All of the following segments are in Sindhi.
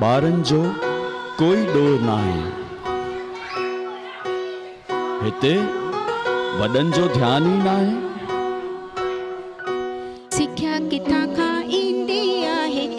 ٻارن جو ڪوئي ڏور ناهي هتي وڏن جو ڌيان ئي ناهي. سکيا ڪٿان کان ايندي آهي.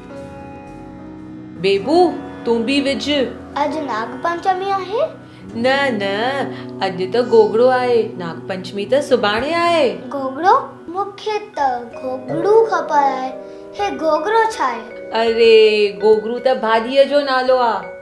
بيبو تون به وجهه. اڄ ناگ پنچمي آهي. نه نه اڄ ته گوگڙو آهي ناگ پنچمي ته سڀاڻي آهي. گوگڙو؟ مون کي ته گوگڙو خبر آهي. هي گوگڙو ڇا آهي؟ اري گوگڙو ته ڀاڄيء جو نالو آهي.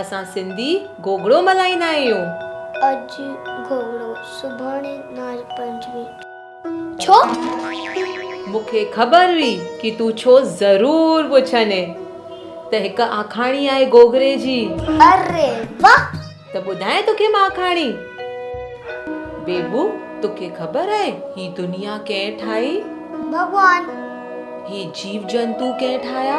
اسان سنڌي گوگڙو ملهائيندا آهيون. اڄ گهوڙو سڀاڻي ناج پنچمي ڇو؟ مون کي خبر هئي ڪي تون ڇو ضرور پڇندين ته هڪ آکاڻي آهي گوگڙي جي. اري واھ. ته ٻڌايان توکي مان آکاڻي. بيبو توکي خبر آهي هي دنيا ڪنهن ٺاهي؟ ڀڳوان. هي جيو جنتو ڪنهن ٺاهيا؟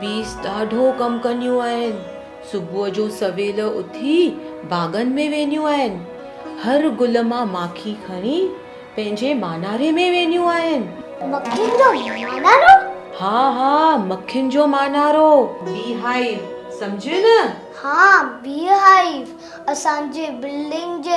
بيس ڏاڍو ڪم ڪنديون آهن. صبح جو سويل اٿي باغن ۾ وينديون آهن. هر گل مان ماکي کڻي پنهنجي ماناري ۾ وينديون آهن. مکين جو مانارو؟ ها ها مکين جو مانارو. بي هائيو سمجهيو نه؟ ها بي هائيو اسان جي بلڊنگ جي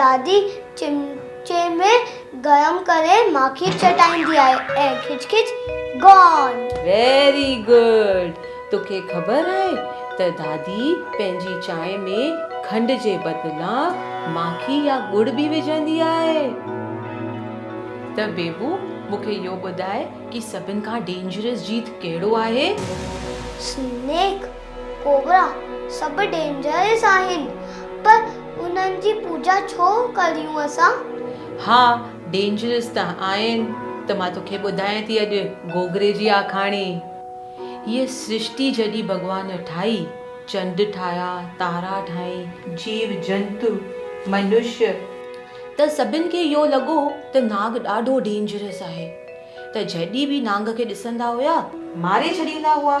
دادي چمچي ۾ گرم ڪري ماکي چٽائيندي آهي ۽ کچ کچ Gone. Very good توکي خبر آهي ته دادي پنهنجي چانهه ۾ کنڊ جي بدلان ماکي يا ڳڙ به وجهندي آهي. ته بيبو مون کي اهو ٻڌاء ڪي سڀن کان ڊينجرس جيت ڪهڙو آهي؟ Snake. ڪوبرا سڀ ڊينجرس آهن پر انهن جي پوڄا ڇو ڪريون اسان؟ ها ڊينجرس ته آهن ته مان توکي ٻڌايان ٿي اڄ گوگري جي آکاڻي. هيء سرشتي جڏهن ڀڳوان ٺاهي، چنڊ ٺاهيا، تارا ٺاهين، جيو جنتو، منشي، ته سڀن کي اهو لڳو ته ناگ ڏاڍو ڊينجرس آهي ته جهڏي به نانگ کي ڏسندا هيا ماري ڇڏيندا هئا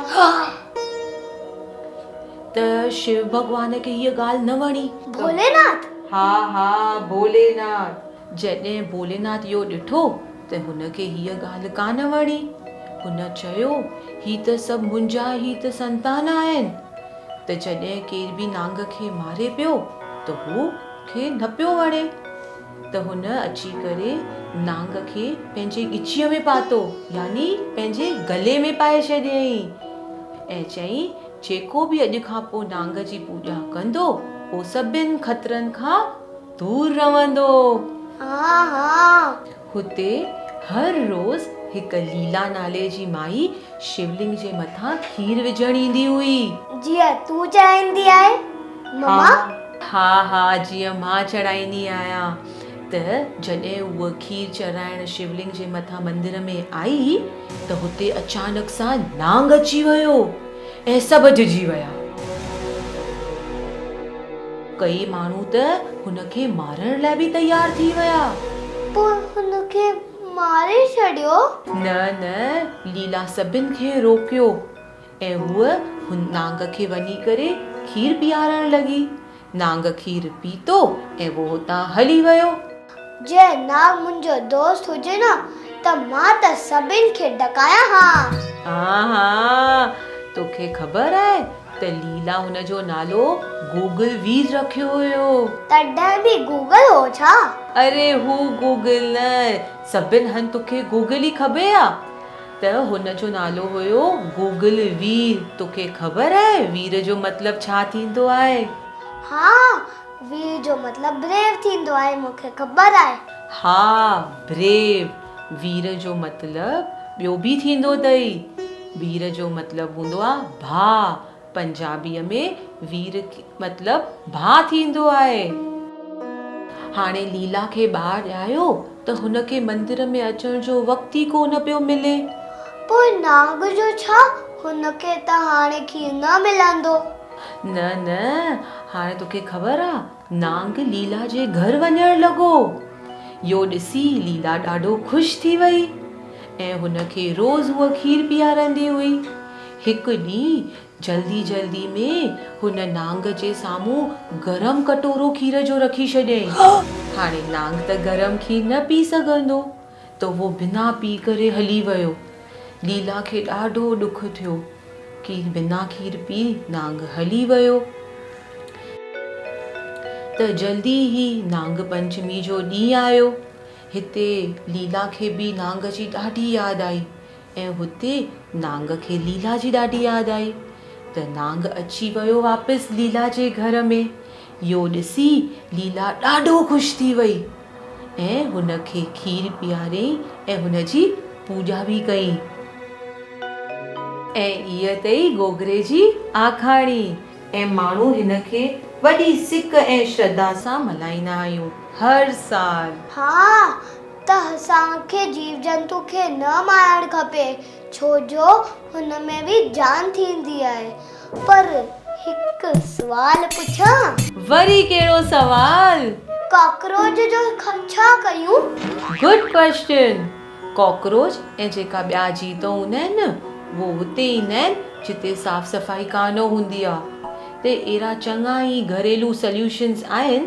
ته شيو ڀڳوان کي هيء ڳالهه نه وڻي. ڀولي ناٿ! ها ها ڀولي ناٿ! جڏهن ڀولي ناٿ اهو ڏٺو ته هن کي هيء ڳالهه ڪانه وڻي. هن چيو هي ته سڀ منهنجا ئي ته سنتان آهن ته جڏهن ڪير به نانگ کي ماري پيو ته هو کي نه پيو وڻي. ته هن اچي ڪري نانگ کي پنهنجي ڳچيء ۾ پاتو، يعني پنهنجي گلي ۾ پائي ڇڏيائين ۽ چيائين، جيڪو به اڄ کان پوء نانگ جي پوڄا ڪندو، هو سڀن خطرن کان دور رهندو. هتي هر روز هڪ ليلا نالي جي مائي شولنگ جي مٿان کير وجهڻ ايندي هئي. جيئن تون چاهيندي آهي مما. ها ها جيئن مان چڙهائيندي آهيان ته جڏهن هوء کير چڙهائڻ شولنگ جي مٿان مندر ۾ آئي ته هتي اچانڪ سان نانگ اچي ويو ۽ سڀ ڊڄي ويا. ڪيئي ماڻهو ته هن کي مارڻ لاء به تيار ٿي ويا. پوء هن کي ماري ڇڏيو؟ نه نه ليلا سڀن کي روڪيو ۽ هوء هن نانگ کي وڃي ڪري کير پيارڻ لڳي. نانگ کير پيتو ۽ هو هتان هلي ويو. جي نانگ منهنجو دوست هجي نه ته مان ته سڀني کي ڊڪايان ها. ها ها، توکي خبر آهي ته ليلا هن جو نالو گوگل ويز رکيو هيو. تڏهن به گوگل هو ڇا؟ اري هو گوگل نه، سڀني هنڌ توکي گوگل ئي کبي ها. ته هن جو نالو هيو گوگل وير توکي خبر آهي وير جو مطلب ڇا ٿيندو آهي؟ ها وير جو مطلب بريو ٿيندو آهي مون کي خبر آهي. ها بريو وير جو مطلب ٻيو به ٿيندو اٿئي وير جو مطلب هوندو آهي ڀاء پنجابيء ۾ وير مطلب ڀاء ٿيندو آهي. هاڻي ليلا کي ٻار ڄايو ته هن کي مندر ۾ اچڻ جو وقت ئي ڪو نه پيو ملي. پوء نانگ جو ڇا؟ هن کي ته هاڻي کير نه ملندو. نه نه هاڻي توکي خبر آ نانگ ليلا جي گهر وڃڻ لڳو. يو ڏسي ليلا ڏاڍو خوش ٿي وئي ۽ هن کي روز هوء کير پياريندي هئي. هڪ ڏينهن جلدي جلدي ۾ هن نانگ جي سامهون گرم ڪٽورو کير جو رکي ڇڏيائين. هاڻي نانگ ته گرم کير نه پي سگهندو. ته اهو بنا پي ڪري هلي ويو. ليلا کي ڏاڍو ڏک ٿيو ڪي بنا کير پي نانگ هلي ويو. ته جلدي ئي نانگ پنچمي جو ڏينهن آيو. هتي ليلا کي به نانگ جي ڏاڍي ياد آئي. ۽ هتي نانگ کي ليلا جي ڏاڍي ياد آئي ته نانگ اچي ويو واپس ليلا جي گهر ۾ يو ڏسي ليلا ڏاڍو خوش ٿي وئي ۽ هن کي کير پياريائين ۽ هن جي پوڄا به ڪئين. ۽ هيء اٿئي گوگري جي آکاڻي. ۽ ماڻهو هن کي وڏي سڪ ۽ شرڌا سان ملهائيندا آهيون هر سال. ها ته اسان کي جيو جنتو کي نه مارڻ کپي ڇو جو هن ۾ به جان ٿيندي آهي پر هڪ سوال پڇان؟ وري ڪهڙو سوال؟ ڪاڪروچ جو ڇا ڪيون؟ گڊ ڪويسچن، ڪاڪروچ ۽ جيڪا ٻيا جيو ته هوندا آهن نه اهي اتي ايندا آهن جتي صاف صفائي ڪانه هوندي آهي ته اهڙا چڱا ئي گهريلو سليوشنز آهن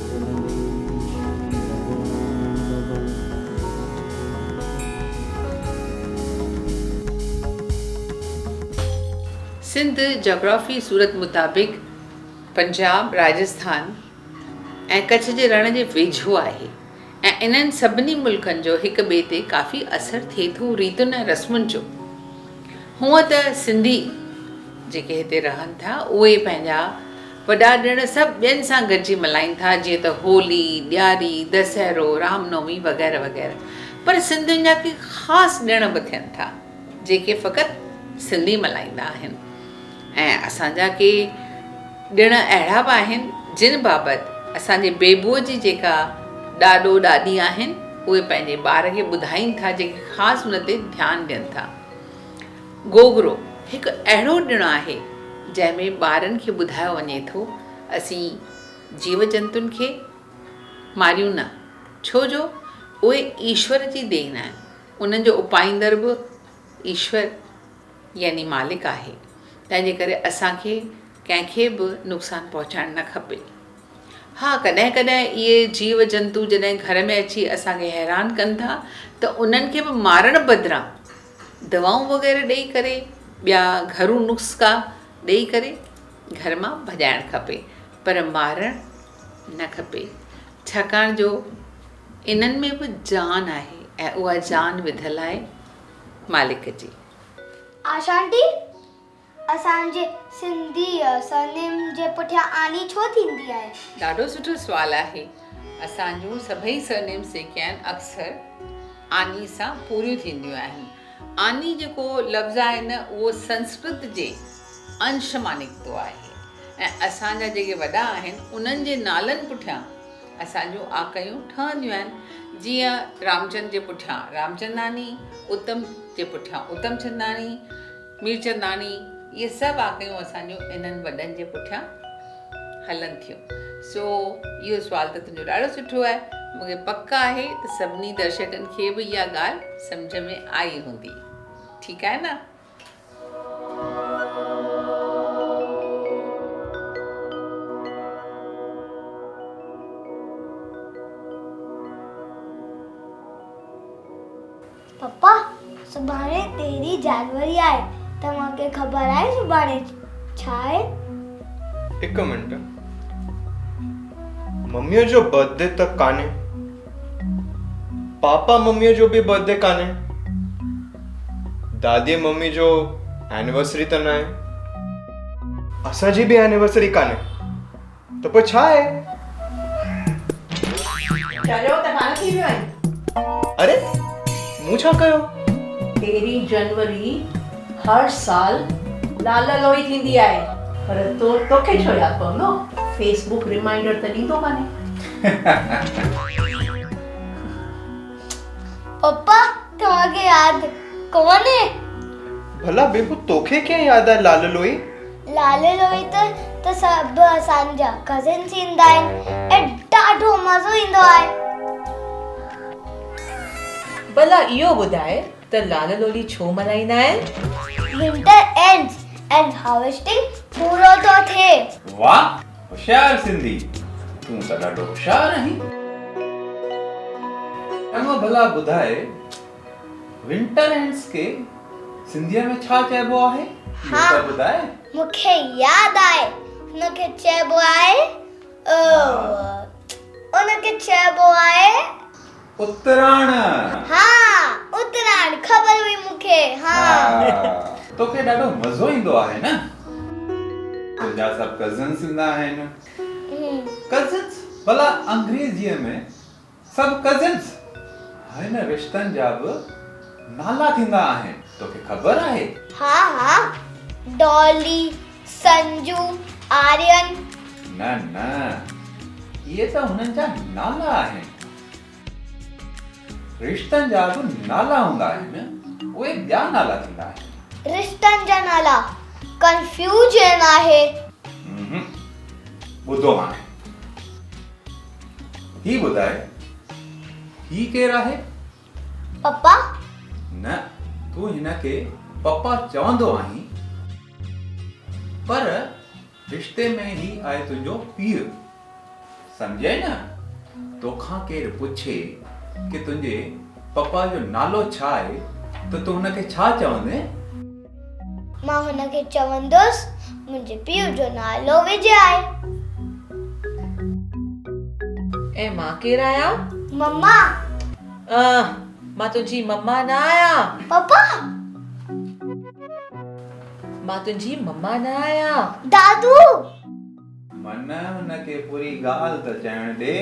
سنڌ جاگرافي صورت مطابق پنجاب، راجسٿان ۽ ڪڇ جي رڻ جي ويجهو آهي. ۽ انهن سڀني ملڪن جو هڪ ٻئي تي ڪافي اثر ٿئي ٿو ريتن ۽ رسمن جو. هونء ته سنڌي جيڪي هتي رهن ٿا اهي پنهنجا وڏا ڏڻ سڀ ٻين سان گڏجي ملهائين ٿا جيئن ته هولي، ڏياري، دسهرو، رام نومي وغيره وغيره پر سنڌين جا ڪي خاص ڏڻ به ٿين ٿا جيڪي فقط سنڌي ملهائيندا آهن. ۽ اسان جا ڪي ڏڻ اهڙا به آهن جن بابت اسان جي بيبوء جي جيڪا ڏاڏو ڏاڏي آهن اهي پنهنجي ٻار کي ٻڌائين ٿا جيڪي خاص ان تي ڌيان ڏين ٿا. گوگرو هڪ اهڙو ڏڻ آهي جنهن ۾ ٻارن کي ٻڌايو وڃي ٿو اسين جيو جنتن کي ماريون نه ڇو جو اهي ايشور جي دين آهن انهن جو اپائيندڙ به ايشور يعني مالڪ آهي، تنهنجي ڪري اسان کي ڪنهن کي به نقصان پهچائڻ نه کپي. ها ڪڏهن ڪڏهن اهي جيو جنتو جڏهن گهر ۾ اچي اسان کي حيران ڪن ٿا ته انهن کي به مارڻ بدران دوائون وغيره ڏئي ڪري ٻيا گهرو نسخا ڏئي ڪري گهر مان ڀڄائڻ کپي پر مارڻ نه کپي ڇاڪاڻ جو انهن ۾ به جان آهي ۽ اها جان وڌل آهي مالڪ جي. آشا آنٽي اسان جي سنڌي سرنيم جي پٺيان آني ڇو ٿيندي آهي؟ ڏاڍو سٺو سوال آهي اسان جون سڀئي سرنيمس جيڪي آهن اڪثر آني سان پوريون ٿينديون آهن آني جيڪو لفظ آهي نه اهو سنسڪرت جي انش مان نڪتو آهي ۽ اسان جا جيڪي وڏا آهن انهن جي نالن پٺيان اسان جون آڪهيون ٺهنديون آهن جيئن رامچند جي پٺيان رامچنداڻي، اتم جي پٺيان اتمچنداڻي، ميرچنداڻي اهي سڀ آڪهيون اسان جون انهن وڏن جي پٺيان هلن ٿيون. سو اهو سوال ته تنهنجو ڏاڍو سٺو آهي. مون کي پڪ آهي ته سڀني درشڪن کي به اها ڳالهه سمجهه ۾ آئي هوندي. ٺيڪ آهي نه؟ پپا سڀاڻي تيرهين جانوري آهي توهان کي خبر آهي سڀاڻي ڇا آهي؟ هڪ منٽ مميء جو برٿ ڊي ته ڪانهي پاپا مميء جو به برٿ ڊي ڪانهي دادي ممي جو اينورسري ته ناهي اسان جي به اينورسري ڪانهي ته پوء ڇا آهي چريو ته ڪانه ٿي ويو آهين اري مون ڇا ڪيو تيرهين جنوري هر سال لال لوئي ٿيندي آهي پر توکي ڇو ياد پوندو فيس بوڪ ريمائينڊر ته ڏيندو ڪانهي. پپا توهان کي ياد ڪونهي. ڀلا بيبو توکي ڪيئن ياد آهي لال لوئي. لال لوئي ته ته سڀ اسان جا ڪزنس ايندا آهن ۽ ڏاڍو مزو ايندو آهي. ڀلا اهو ٻڌاء ته لال لولي ڇو ملهائيندا آهن؟ Winter ends and harvesting پورو ٿو ٿئي. واھ هوشيار سنڌي تون ته ڏاڍو هوشيار آهين. اما ڀلا ٻڌاء Winter ends کي سنڌيء ۾ ڇا چئبو آهي اهو ته ٻڌاء. مون کي ياد آهي هن کي چئبو آهي ان کي چئبو آهي. اتراڻ. ها اتراڻ خبر هئي مون کي ها. توکي ڏاڍو مزو ايندو آهي نه. تنهنجا سڀ ڪزنس ايندا آهن. ڪزنس ڀلا انگريزيء ۾ سڀ ڪزنس هن رشتن جا به نالا ٿيندا آهن توکي خبر آهي. ها ها ڊالي سنجو، آرين. نه نه اهي ته هنن جا نالا آهن. رشتن جا به نالا هوندا آهن اهي ٻيا نالا ٿيندا آهن. رشتن جا نالا ڪنفيوجن آهي. امم ٻڌو هاڻي هي ٻڌاء هي ڪير آهي؟ پپا! نه تون هن کي پپا چوندو آهين پر رشتي ۾ هي آهي تنهنجو پيء سمجهئي نه توکان ڪير پڇي ڪي تنهنجي پپا جو نالو ڇا آهي ته تون هن کي ڇا چوندين؟ مان هن کي چوندس منهنجي پيء جو نالو وجي آهي. ۽ مان ڪير آهيان؟ مما. آه مان تنهنجي مما نه آهيان. پپا. مان تنهنجي مما نه آهيان. دادو. من هن کي پوري ڳالهه ته چئڻ ڏي.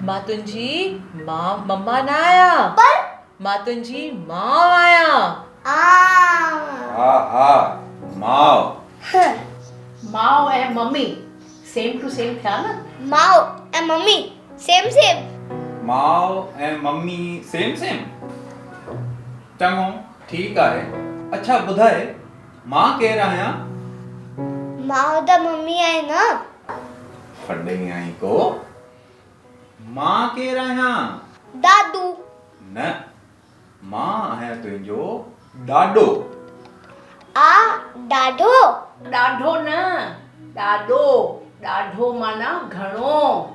مان تنهنجي ماء مما نه آهيان. پر. مان تنهنجي ماء آهيان. آء. ها ها ماء. ها. ماء ۽ ممي سيم ٽو سيم ٿيا نه. ماء ۽ ممي سيم سيم. ماء ۽ ممي سيم سيم. چڱو ٺيڪ آهي. اڇا ٻڌاء مان ڪير آهيان؟ ماء ته ممي آهي نه. ڦڏي آهين ڪو. مان ڪير آهيان؟ دادو. نه، مان آهيان تنهنجو ڏاڏو. آء ڏاڍو. ڏاڍو نه، ڏاڏو. ڏاڍو معنيٰ گهڻو.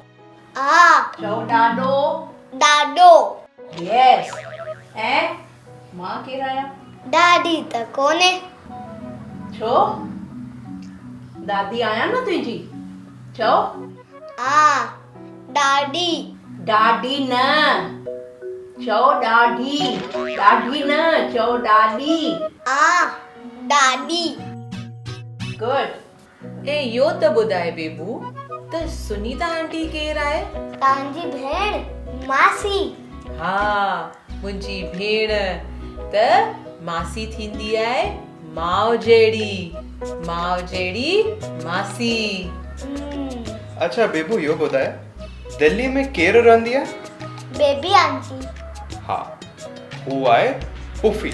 آء. چئو ڏاڏو. ڏاڏو. Yes. ۽ مان ڪير آهيان؟ ڏاڏي ته ڪونهي. ڇو؟ دادي آهيان نه تنهنجي. چئو. آ ڏاڏي. ڏاڏي نه. چئو ڏاڍي. ڏاڍي نه. چئو ڏاڏي. آ ڏاڏي. Good. ۽ اهو ته ٻڌاء بيبو ته سنيتا آنٽي ڪير آهي؟ تنهنجي ڀيڻ ماسي. ها منهنجي ڀيڻ ته ماسي ٿيندي آهي ماء جهڙي ماء جهڙي ماسي. هم. اڇا بيبو اهو ٻڌاء دهلي ۾ ڪير رهندي آهي؟ Baby aunty. ها هو آهي پڦي.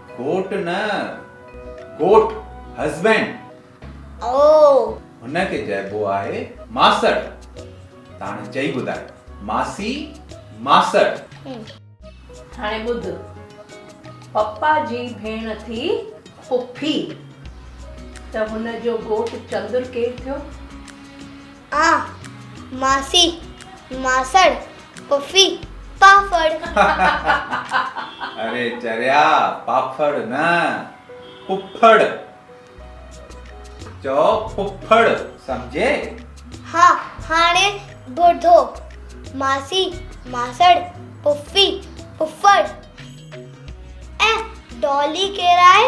گهوٽ نه گهوٽ Husband اوه. هن کي چئبو آهي ماسڙ. ته هاڻي چئي ٻڌاء ماسي ماسڙ. هم. هاڻي ٻڌ پپا جي ڀيڻ ٿي پڦي ته هن جو گهوٽ چندر ڪير ٿيو؟ آء، ماسي، ماسڙ، پڦي، پاڦڙ. اري چريا پاڦڙ نه پڦڙ چئو پڦڙ سمجهي. ها هاڻي ٻڌو ماسي ماسڙ پڦي پڦڙ ۽ ڊولي ڪير آهي؟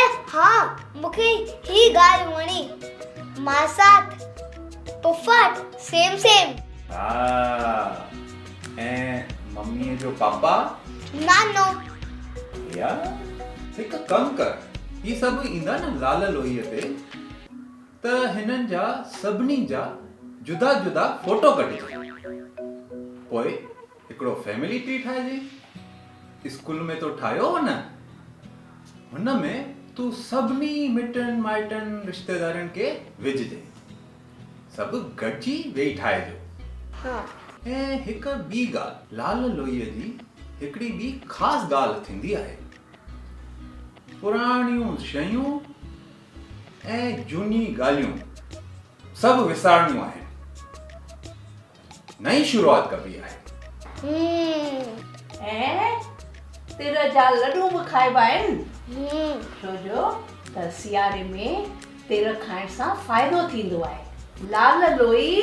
اف ها مونکي هي ڳالهه وڻي ماسات پڦاٽ سيم سيم. ها ۽ ممي جو پاپا. نانو. ريا هڪ ڪم ڪر هي سڀ ايندا نه لال لوهي تي ته هنن جا سڀني جا جدا جدا فوٽو ڪڍجي پوء هڪڙو فيملي ٽري ٺاهه جئين اسڪول ۾ تو ٺاهيو هو نه هن ۾ تون سڀني مٽن مائٽن رشتيدارن کي وجهه جئين سڀ گڏجي ويهي ٺاهجو ها ۽ هڪ ٻي ڳالهه لال لوئي جي هڪڙي ٻي خاص ڳالهه ٿيندي آهي پراڻيون شيون ۽ جهوني ڳالهيون سڀ وسارڻيون آهن. نئين شروعات ڪبي آهي. ھمم ۽ تر جا لڏو به کائبا آهن ھمم ڇو جو ته سياري ۾ تر کائڻ سان فائدو ٿيندو آهي لال لوئي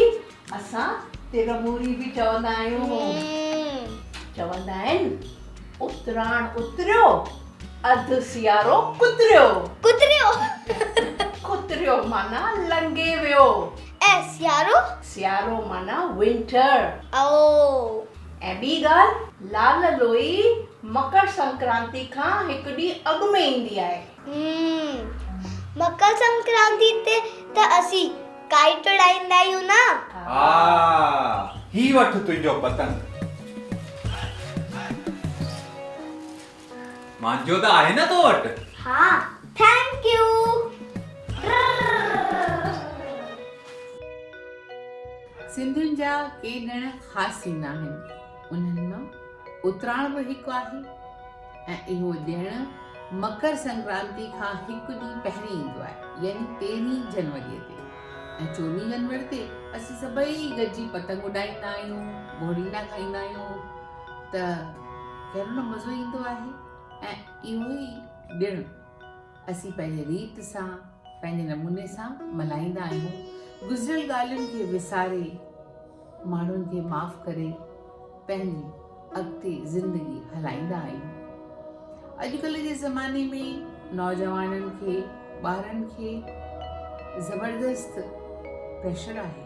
اسان تر موري به چوندا آهيون ھمم چوندا آهن اتراڻ اتريو اڌ سيارو ڪتريو ڪتريو ڪتريو معنيٰ لنگهي ويو ۽ سيارو سيارو معنيٰ Winter. او. ۽ ٻي ڳالهه. لال لوئي مڪر سنڪرانتي کان هڪ ڏينهن اڳ ۾ ايندي آهي. هم. مڪر سنڪرانتي تي ته اسين Kite اڏائيندا آهيون نه. ها. هي وٺ تنهنجو پتنگ. مانجو ته آهي نه تو وٽ. ها ٿينڪ يو. سنڌين جا ڪي ڏڻ خاص ٿيندا آهن انهن مان اتراڻ به هڪ آهي ۽ اهو ڏڻ مڪر سنڪرانتي کان هڪ ڏينهن پهرين ايندو آهي يعني تيرهين جنوري تي ۽ چوڏهين جنوري تي اسين سڀئي گڏجي پتنگ اڏائيندا آهيون ڀوڙينڊا کائيندا آهيون ته ڪهڙو نه مزو ايندو آهي ۽ اهو ئي ڏڻ اسين پنهنجي ريت سان پنهنجي نموني سان ملهائيندا آهيون گذريل ڳالهين کي وساري ماڻهن کي معاف ڪري پنهنجي اڳتي زندگي هلائيندا آهيون اڄڪلهه جي زماني ۾ نوجوانن کي ٻارن کي زبردست پريشر آهي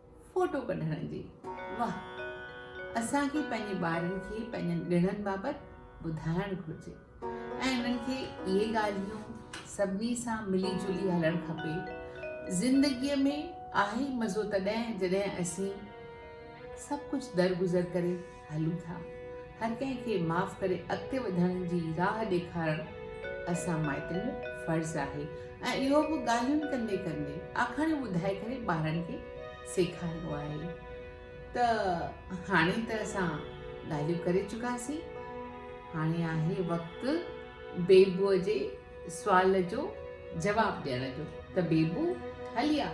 فوٽو ڪڍڻ جي واهه اسان کي پنهنجي ٻارن کي پنهنجن ڏڻن بابت ٻڌائڻ گهرجي ۽ انهن کي اهي ڳالهيون سڀني سان ملي جلي هلڻ کپي زندگي ۾ آهي مزو تڏهن جڏهن اسين سڀ ڪجهه درگذر ڪري هلون ٿا هر ڪنهن کي معاف ڪري اڳتي وڌڻ جي راهه ڏيکارڻ اسان مائٽن جو فرض آهي ۽ اهو به ڳالهيون ڪندي ڪندي آکاڻيون ٻڌائي ڪري ٻارن کي سيکاربو آهي ته هاڻي ته اسان ڳالهيون ڪري چڪاسين هاڻي آهي وقت بيبو جي سوال جو جواب ڏيڻ جو ته بيبو هلي آ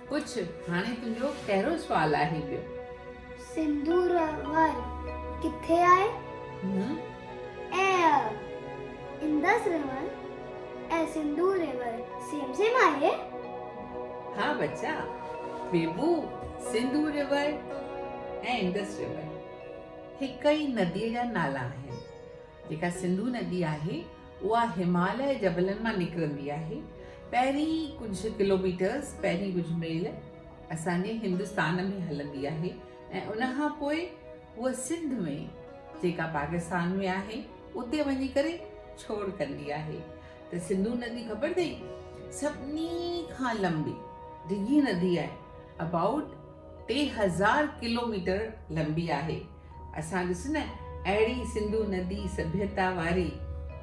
پڇ هاڻي تنهنجو ڪهڙو سوال آهي ٻيو. سندور ور ڪٿي آهي؟ هون. اي اهه اندس رهون ۽ سندور ري ور سيم سيم آهي؟ ها ٻچا بيبو سندور ري ور ۽ اندس ري ور هڪ ئي ندي جا نالا آهن جيڪا سنڌو ندي آهي اها هماليه جبلن مان نڪرندي آهي. پهرين ڪجهه ڪلوميٽرز، پهرين ڪجهه ميل اسان جي هندستان ۾ هلندي آهي ۽ ان کان پوء هوء سنڌ ۾ جيڪا پاڪستان ۾ آهي اتي وڃي ڪري ڇوڙ ڪندي آهي ته سنڌو ندي خبر اٿئي سڀني کان لمبي ڊگهي ندي آهي ابائوٽ ٽي هزار ڪلوميٽر لمبي آهي. اسان ڏس نه اهڙي سنڌو ندي سڀيتا واري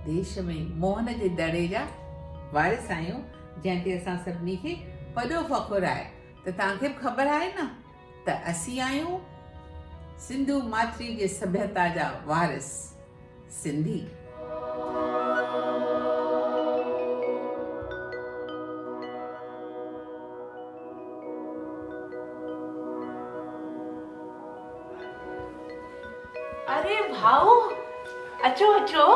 ديش ۾ موهن جي دڙي جا وارث آهيون جنهن تي اسان سڀني کي وڏو فخر آهي ته توهان کي به خبر آهي نه ته اسين آهيون سنڌو ماٿري جي سڀيتا جا وارث. سنڌي. اري ڀائو اچو اچو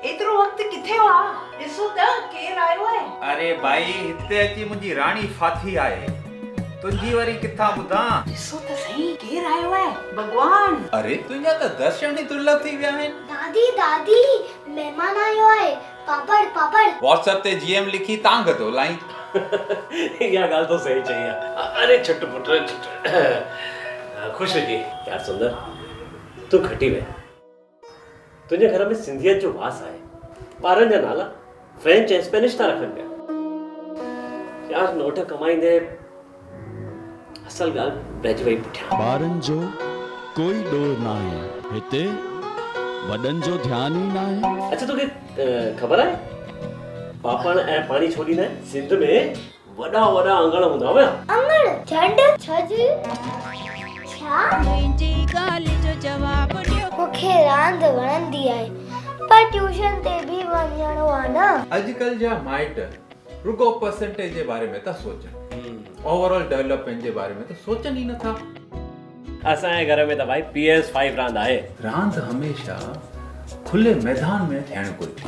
ايترو وقت ڪٿي هئا ڏسو ته ڪير آيو آهي. اري ڀائي هتي اچي منهنجي راڻي ڦاٿي آهي. تنهنجي وري ڪٿان ٻڌان. ڏسو ته سهي ڪير آيو آهي؟ ڀڳوان. اري تنهنجا ته درشن ئي درلڀ ٿي ويا آهن. دادي دادي مهمان آيو آهي پاپڙ پاپڙ. واٽس ايپ تي جي ايم لکي تانگهه ٿو لائين. اها ڳالهه تو سهي چئي آ. اري ڇٽ پٽ ڇٽ خوش هجي. يار سندر تون کٽي ويهه. تنهنجي گهر ۾ سنڌيت جو واس آهي. ٻارن جا نالا فرينچ ۽ اسپينش ٿا رکن پيا. يار نوٽ ڪمائيندي اصل ڳالهه رهجي وئي پٺيان. ٻارن جو ڪوئي ڏور ناهي. هتي وڏن جو ڌيان ئي ناهي. اڇا توکي خبر آهي پاپاڻ ۽ پاڻي ڇو ڏيندا آهن؟ سنڌ ۾ وڏا وڏا اڱڻ هوندا هيا. اڱڻ جهنڊ ڇج ڇا؟ منهنجي ڳالهه جو جواب ڏيو. مون کي راند وڻندي آهي پر ٽيوشن تي به وڃڻو آهي نه. اڄڪلهه جا مائٽ رڳو پرسنٽيج جي باري ۾ ٿا سوچن اوور آل ڊولپمينٽ جي باري ۾ ته سوچن ئي نٿا. اسان جي گهر ۾ ته ڀائي پي ايس فائيو راند آهي. راند هميشه کلي ميدان ۾ ٿيڻ گهرجي.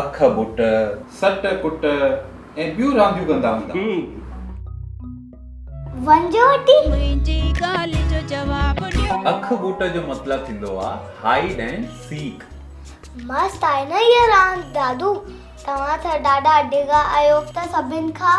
اک ٻٽ، سٽ ڪٽ ۽ ٻيون رانديون ڪندا هوندا هئا. اک ٻٽ جو مطلب ٿيندو آهي Hide and Seek. مست آهي نه هيء راند دادو. توهان ته ڏاڍا ڊگها آهيو ته سڀن کان